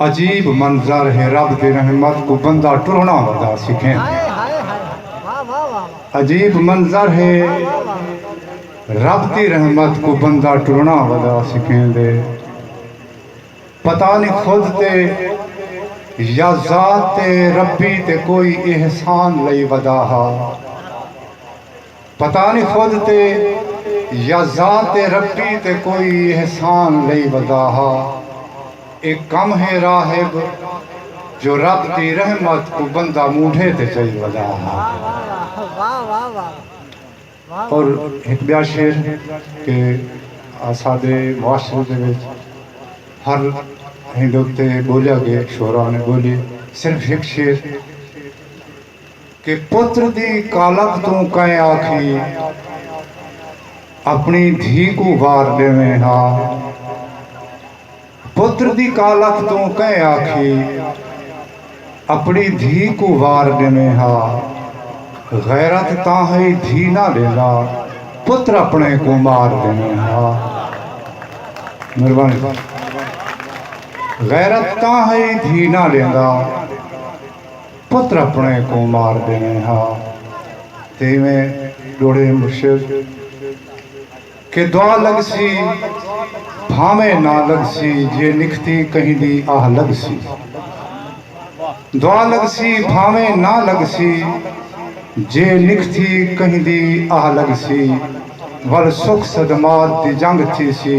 عجیب منظر ہے رب دی رحمت کو بندہ ٹرنا ودا سکھیں عجیب منظر ہے رب دی رحمت کو بندہ ٹرنا ودا سکھیں دے پتہ نہیں خود تے یا ذات تے ربی تے کوئی احسان لئی ودا ہا پتہ نی خود تے یا ذات ربی تے کوئی احسان لئی ودا ہا۔ اے کم ہے راہب جو رب دی رحمت کوں بندہ موڈھے تے چائی ودا ہا۔ اور ہک بیا شعر کہ اساڈے معاشرے دے وچ ہر ہندو تے بولیا گئے شعرا نے بولی صرف ہک شعر کہ پتر دی کالکھ توں کئیں آکھی اپݨی دھی کوں وار ݙیویں ہا۔ پتر دی کالکھ توں کئیں آکھی اپݨی دھی کوں وار ݙیویں ہا۔ غیرت تاں ہئی دھی نہ ݙیندا پتر اپݨے کوں مار ݙیویں ہا۔ مہربانی غیرت تاں ہئی دھی نہ ݙیندا۔ پتر اپݨے کوں مار ݙیویں ہا تے ایویں ݙوڑے مرشد کے دعا لڳسی بھانویں نہ لڳسی جے نکھتی کہیں دی آہ لڳسی دعا لڳسی بھانویں نہ لڳسی جے نکھتی کہیں دی آہ لڳسی ول سکھ صدمات دی جنگ تھیسی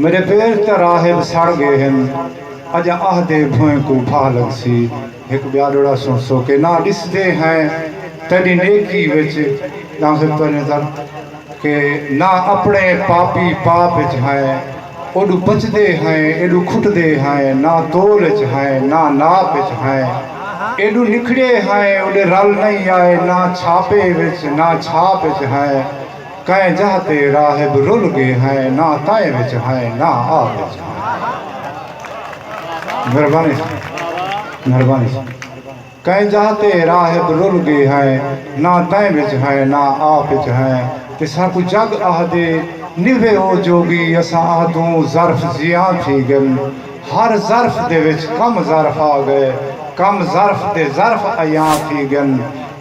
میݙے پیر تاں راہب سڑ ڳئے ہن اڄاں آہدے بھوئیں کوں بھاہ لڳسی ہک ٻیا ݙوڑا سݨ سوکے ناں ݙسدے ہیں تیݙی نیکی وچ ݙاہوں سے پریں در کہ ناں اپݨے پاپی پاپ وچ ہیں اوݙوں پچدے ہیں ایݙوں کھٹدے ہیں ناں تول وچ ہیں ناں ناپ وچ ہیں ایݙوں نکھڑے ہیں اوݙے رل نئیں آئے ناں چھاپے وچ ناں چھاپ وچ ہیں کئیں جاہ تے راہب رل گے ہیں نہ تائیں وچ ہیں نہ آ وچ ہیں مہربانی مہربانی کئیں جاہ تے راہب رل گے ہیں نہ تائیں وچ ہیں نہ آ وچ ہیں تے ساکو جگ آہدے نیوے او جوگی اساں آہدوں ظرف زیاں تھی گن ہر ظرف دے وچ کم ظرف آ گئے کم ظرف تے ظرف ایاں تھی گن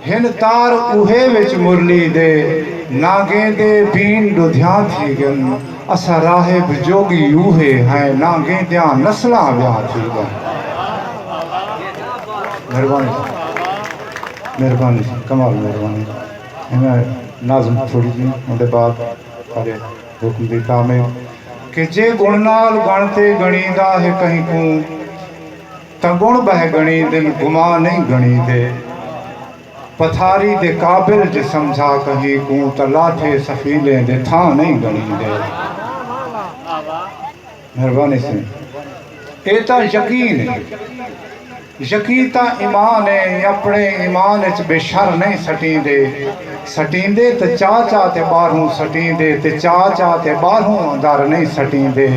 ہن تار اوہے وچ مرلی دے نانگیں دے بین ڈودھیاں تھی گن اسا راہب جوگی اوہے ہیں نانگیں دیاں نسلاں ویاں تھی گن مہربانی مہربانی کمال مہربانی میں نازم تھوڑی جی ان دے بعد سارے حکم دی تامے کہ جے گن نال گن تے گنی دا ہے کہیں کوں تاں گݨ ٻہہ گݨی دن گما نئیں گݨی تے پتھاری دے قابل جے سمجھا کہیں کوں تاں لاٹھے سخیلیں دے تھاں نئیں گݨی دے مہربانی سیں اے تاں یقین ہے یقین تاں ایمان ہے اپنے ایمان اچ بے شر نئیں سٹیں دے سٹیں دے تے چا چا تے باہروں سٹیں دے تے چا چا تے باہروں اندر نئیں سٹیں دے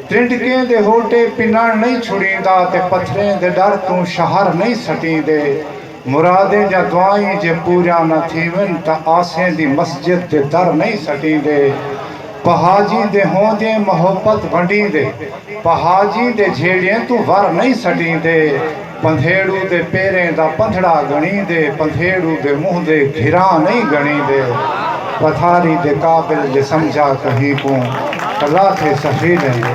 ٹنڈکیں دے ہوٹے پنݨ نئیں چھڑیندا تے پتھریں دے ݙر توں شہر نئیں سٹیندے مرادیں جاں دعائیں جے پوریاں نہ تھیون تاں آسیں دی مسجد دے در نئیں سٹیندے پہاجیں دے ہوندیں محبت ونڈیندے پہاجیں دے جھیڑیں توں ور نئیں سٹیندے پندھیڑو دے پیریں دا پندھڑا گھنڑیندے پندھیڑو دے منہ دے گھراں نئیں گھنڑیندے پتھاری دے قابل جے سمجھا کہیں کوں کلا تھے سخی لیندے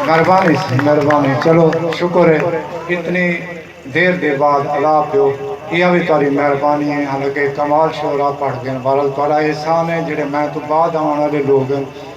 مہربانی سی مہربانی چلو شکر ہے اتنی دیر دے بعد الاپ دیو ایہا وی تہاڈی مہربانی ہے حالانکہ کمال شعرا پڑھ گن بہرحال تہاڈا احسان ہے جیہڑے میں توں بعد آون آلے لوگ ہن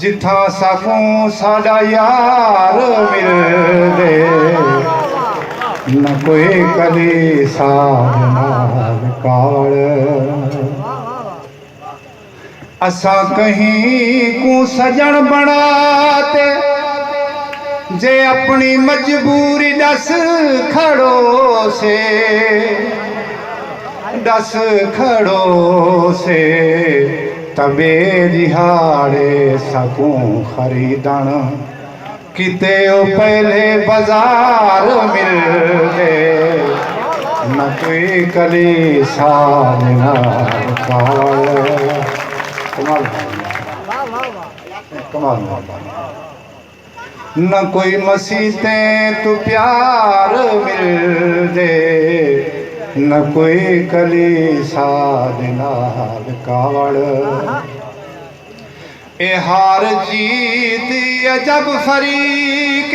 جتھاں ساکوں ساڈا یار مل دے نہ کوئی کدی ساد نال کاوڑ اساں کہیں کو سجن بنا تے جے اپنی مجبوری دس کھڑو سے دس کھڑو سے تبے ݙیہاڑے ساکوں خریدݨ کیتے او پہلے بازار ملدے نہ کوئی کلیسا دے نال کال کمال کمال نہ کوئی مسیتیں تو پیار مل دے نہ کوئی کلیسا دے نال کاوڑ اے ہار جیت عجب فریق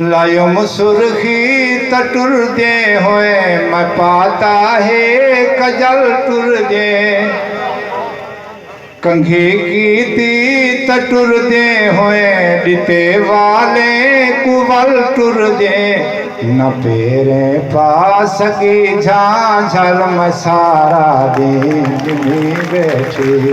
لائم سرخی تاں ٹردے ہوئے میں پاتا ہے کجل ٹردے کنگھی کیتی تاں ٹردے ہوئے ڈتے والے کو ول ٹردے نہ پیرے پا سگی جھان جھل میں سارا دین گھمی بیٹھی